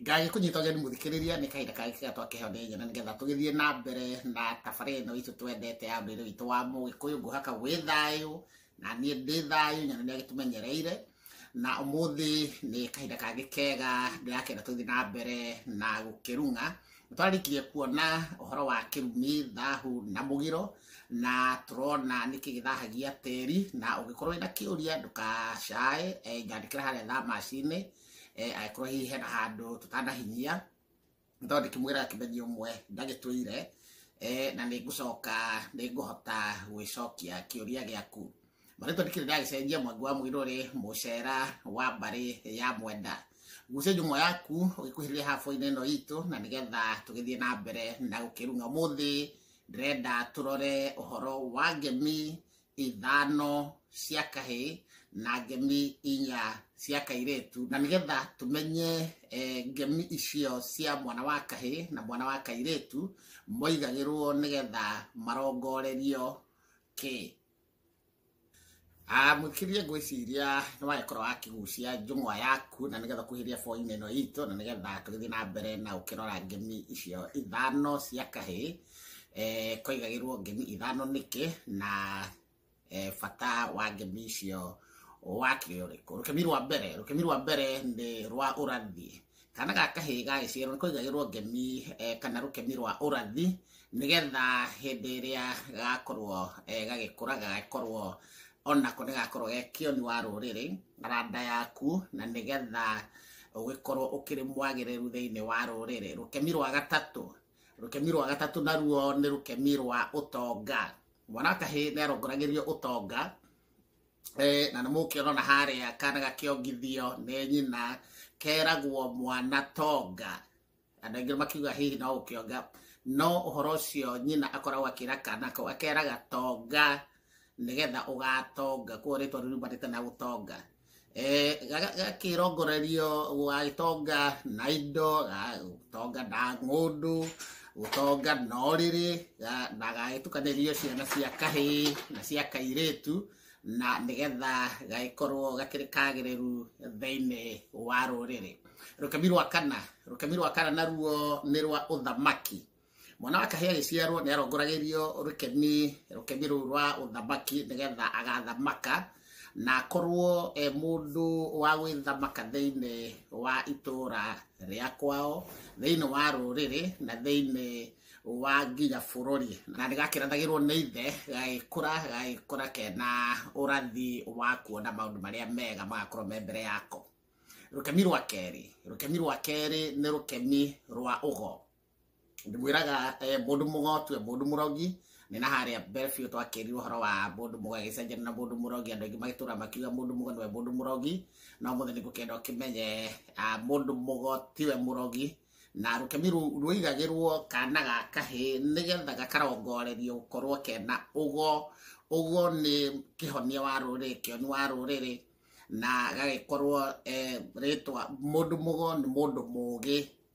ngage kunyita ũgeni mũthikĩrĩria nĩ kahinda kangĩ kega twakeho nĩ nyene nĩgetha tũgĩthiĩ na mbere na tabarĩ ĩno itũ twendete ya ũndũire witũ wa mũgĩkũyũ ngũhaka wĩ thayũ na niĩ ndĩ thayũ nyene nĩ agĩtũmenyereire na ũmũthĩ nĩ kahinda kangĩ kega ndĩrakenda tũthiĩ na mbere na gũkĩrung'a twarĩkirie kuona ũhoro wa kĩrumi thahu na mũgiro na tũrona nĩ kĩgĩthahagia tĩri na ũngĩkorwo wĩna kĩũria ndũkacae eh, nyandĩkĩra harĩa thamaci-inĩ eh, angĩkorwo hihi hena handũ tũtanahinyia nĩ tondũ ndĩkĩmwĩra kĩmenya ũmwe ndagĩtwĩire eh, na nĩ ngũcoka nĩ ngũhota gwĩcokia kĩũria gĩaku marĩtwa ndĩkĩrĩ ndagĩcenjia mwangi wa mũirũrĩ mũcera wa mbarĩ ya mwenda gucia njũng'wa yaku ũgĩkuhĩrĩria haboinĩ ĩno itũ na nĩgetha tũgĩthiĩ na mbere na gũkĩrung'a mũthĩ ndĩrenda tũrore ũhoro wa ngemi ithano cia kahĩ na ngemi inya cia kairĩtu na nĩgetha tũmenye eh, ngemi icio cia mwana wa kahĩ na mwana wa kairĩtu moigagĩrwo nĩgetha marongorerio kĩ Ah, mwĩkĩrie ngwĩciria nĩ wagĩkorwo wakĩgucia njũng'wa yaku na nĩgetha kuhĩria boinĩ ĩno itũ na nĩgetha tũgĩthiĩ na mbere na ũkĩrora ngemi icio ithano cia kahĩ eh, kwaigagĩrwo ngemi ithano nĩkĩ na eh, bata wa ngemi icio wakĩ ũrĩkũ rũkemi rwa mbere rũkemi rwa mbere nĩ rwa ũrathi kana ga kahĩ gagĩciarwo nĩ kwaigagĩrwo ngemi eh, kana rũkemi rwa ũrathi nĩgetha hĩndĩ ĩrĩa gakorwo eh, gagĩkũra gagakorwo onako nĩ gakorwo ge kĩoni wa rũrĩrĩ na randa yaku na nĩgetha ũgĩkorwo ũkĩrĩ mwagĩrĩru thĩinĩ wa rũrĩrĩ rũkemi rwa gatatũ rũkemi rwa gatatũ naruo nĩ rũkemi rwa ũtonga mwana wa kahĩ nĩ arongoragĩrio ũtonga Eh, na nä må kä ona na harä a kana gakäongithio nä nyina keragwo mwana tonga andå aingä makiuga hihi no gå kä onga no å horo å cio nyina akoragwo akä ra kana kau akeraga tonga nä getha å gatonga kuo rä twa riumanä te na gå tonga Eh, gaka- gakĩrongorerio gagĩtonga na indo ga- gũtonga na ng'ũndũ gũtonga na ũrĩrĩ ga- na gagĩtukanĩrio ciana cia kahĩĩ na cia kairĩtu na nĩgetha gagĩkorwo gakĩrĩ kagĩrĩru thĩinĩ wa rũrĩrĩ rũkemi rwa kana rũkemi rwa kana naruo nĩ rwa ũthamaki mwana wa kahĩa agĩciarwo nĩ arongoragĩrio rũkemi rũkemi rũu rwa ũthamaki nĩgetha agathamaka na akorwo e mũndũ wa gwĩthamaka thĩinĩ wa itũũra rĩa kwao thĩinĩ wa rũrĩrĩ na thĩinĩ wa nginya bũrũri na nĩ gakĩrathagĩrwo nĩ ithe gagĩkũra gagĩkũra kena ũrathi wa kuona maũndũ marĩa mega magakorwo me mbere yako rũkemi rwa kerĩ rũkemi rwa kerĩ nĩ rũkemi rwa ũgo ndĩmwĩraga eh, mũndũ mũgotue mũndũ mũrogi nĩ na harĩa mbere biũ twakĩrirwo ũhoro wa mũndũ mũgo agĩcenjania na mũndũ mũrogi andũ aingĩ magĩtũra makiuga mũndũ mũgo nĩwe mũndũ mũrogi no mũthĩ nĩ ngũkenda ũkĩmenye ah, mũndũ mũgo tiwe mũrogi na rũkemi rũu rũigagĩrwo kana ga kahĩ nĩgetha gakarongorerio gũkorwo kena ũgo ũgo nĩ kĩhonia wa rũrĩrĩ kĩoni wa rũrĩrĩ na gagĩkorwo eh, rĩtwa mũndũ mũgo nĩ mũndũ mũgĩ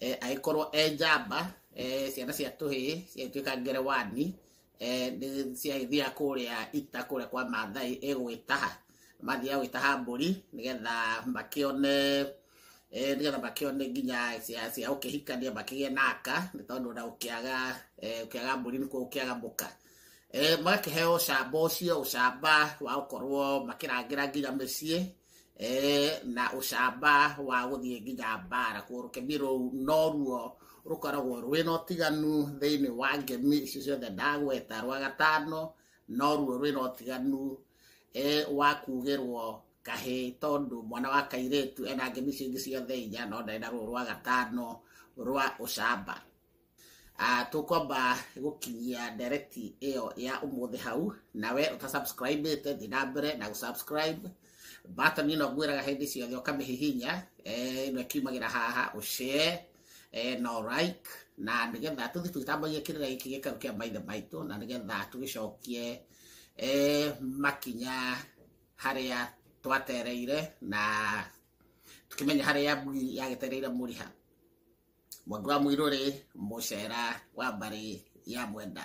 eh, agĩkorwo e njamba eh, ciana cia tũhĩĩ ciagĩtuĩka ngerewani eh, nĩ- ciagĩthiaga kũrĩa ita kũrĩa kwa mathai ĩgwĩtaha mathiaga gwĩtaha mbũri nĩgetha makĩone eh, nĩgetha makĩone nginya cia cia ũkĩhikania makĩgĩe na aka nĩ tondũ na ũkĩaga eh, ũkĩaga mbũri nĩkuo ũkĩaga mũka Eh, magakĩheo ũcamba ũcio ũcamba wa gũkorwo makĩrangĩra nginya mĩciĩ eh, na ucamba wa guthie nginya mbara kurukemi rou no ruo rukoragwo rwina utiganu thiini wa ngemi icio ciothe ndagweta rwa gatano no ruo rwina utiganu eh, wa kugirwo kahi tondu mwana wa kairitu ena ngemi icio ingi ciothe inya no ndari na ruo rwa gatano rwa ucamba Ah, tũkwamba gũkinyia direct ĩyo ya ũmũthĩ hau nawe ũtasubscribĩte thiĩ na mbere na gũsubscribe button ĩno ngwĩraga hĩndĩ ciothe ũkamĩhihinya eh, ĩno ĩkiumagĩra haha ũshare eh, no like na nĩgetha tũthiĩ tũgĩtambagia kĩrĩra gĩkĩ gĩkaru kĩa maithe maitũ na nĩgetha tũgĩcokie eh, makinya harĩa twatereire na tukimenya harĩa mbui yagĩtereire mũriha Mwanga wa Mũirũrĩ, Mũcera wa mbarĩ ya Mwenda.